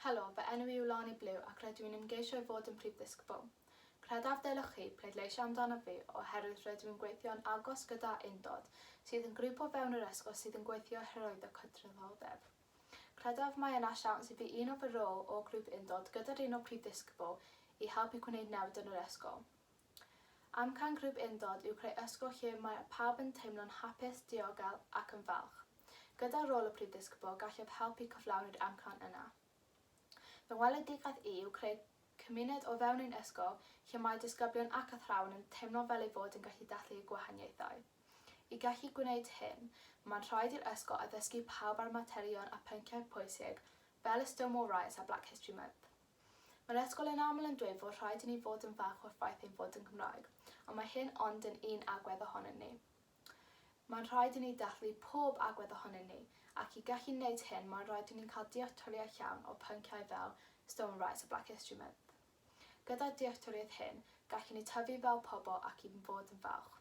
Helo, fy enw i yw Lani Blew ac rydw i'n ymgeisio i fod yn Prif Ddisgybl. Credaf ddylech chi pleidleisio amdanof fi oherwydd rydw i'n gweithio'n agos gyda Undod, sydd yn grŵp o fewn yr ysgol sydd yn gweithio hyrwyddo cydraddoldeb. Credaf mae yna siawns i fi uno fy rôl o Grŵp Undod gyda'r un o Prif Ddisgybl i helpu gwneud newid yn yr ysgol. Amcan Grŵp Undod yw creu ysgol lle mae pawb yn teimlo'n hapus, diogel ac yn falch. Gyda rôl y Prif Ddisgybl, gallaf helpu cyflawni'r amcan yna. Fy ngweledigaeth i yw creu cymuned o fewn ein ysgol lle mae disgyblion ac athrawon yn teimlo fel eu bod yn gallu dathlu y gwahaniaethau. I gallu gwneud hyn, mae'n rhaid i'r ysgol addysgu pawb ar y materion a phynciau pwysig fel y Stonewall Riots a Black History Month. Mae'r ysgol yn aml yn dweud fod rhaid i ni fod yn falch o'r ffaith ein bod yn Gymraeg, ond mae hyn ond yn un agwedd ohonyn ni. Mae'n rhaid i ni dathlu pob agwedd ohonyn ni, ac i gallu neud hyn mae'n rhaid i ni'n cael dealltwriaeth llawn o pynciau fel Stone Rights a Black History Month. Gyda'r dealltwriaeth hyn, gallwn ni tyfu fel pobl ac i fod yn falch.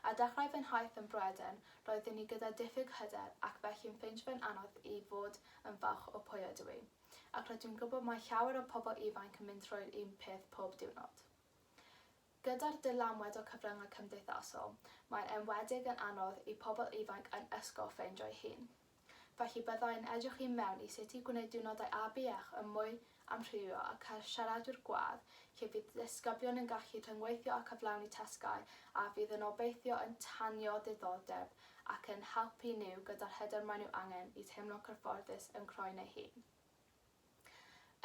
A dechrau fy nhaith yn Bryeden, roeddwn i gyda diffyg hyder ac felly'n ffeindio fe'n anodd i fod yn falch o pwy ydw i. Ac rydw i'n gwybod mae llawer o pobl ifanc yn mynd trwy'r un peth pob diwrnod. Gyda'r dylanwad o cyfryngau cymdeithasol, mae'n enwedig yn anodd i pobl ifanc yn ysgol ffeindio'i hun. Felly bydda i'n edrych i mewn i sut i gwneud diwrnodau ABEACH yn mwy amrywiol a chael siaradwyr gwadd lle bydd disgyblion yn gallu rhyngweithio a chyflawni tasgau a fydd yn obeithio yn tanio diddordeb ac yn helpu nhw gyda'r hyder maen nhw angen i teimlo'n cyfforddus yn croen eu hun.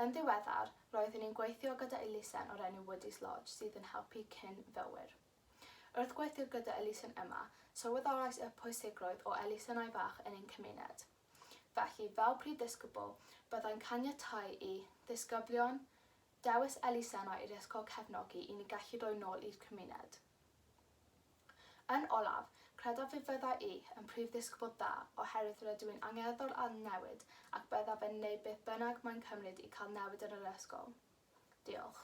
Yn ddiweddar, roeddwn i'n gweithio gyda elusen o'r enw Woody's Lodge sydd yn helpu cyn-fywwyr. Wrth gweithio gyda elusen yma, sylweddolais y pwysigrwydd o elusennau bach yn ein cymuned. Felly, fel prif ddisgybl, byddai'n caniatáu i ddisgyblion dewis elusennau i'r ysgol cefnogi i ni gallu rhoi nôl i'r cymuned. Yn olaf, credaf fe fydda i yn prif ddisgybl dda oherwydd rydw i'n angerddol â newid ac byddaf yn wneud beth bynnag mae'n cymryd i cael newid yn yr ysgol. Diolch.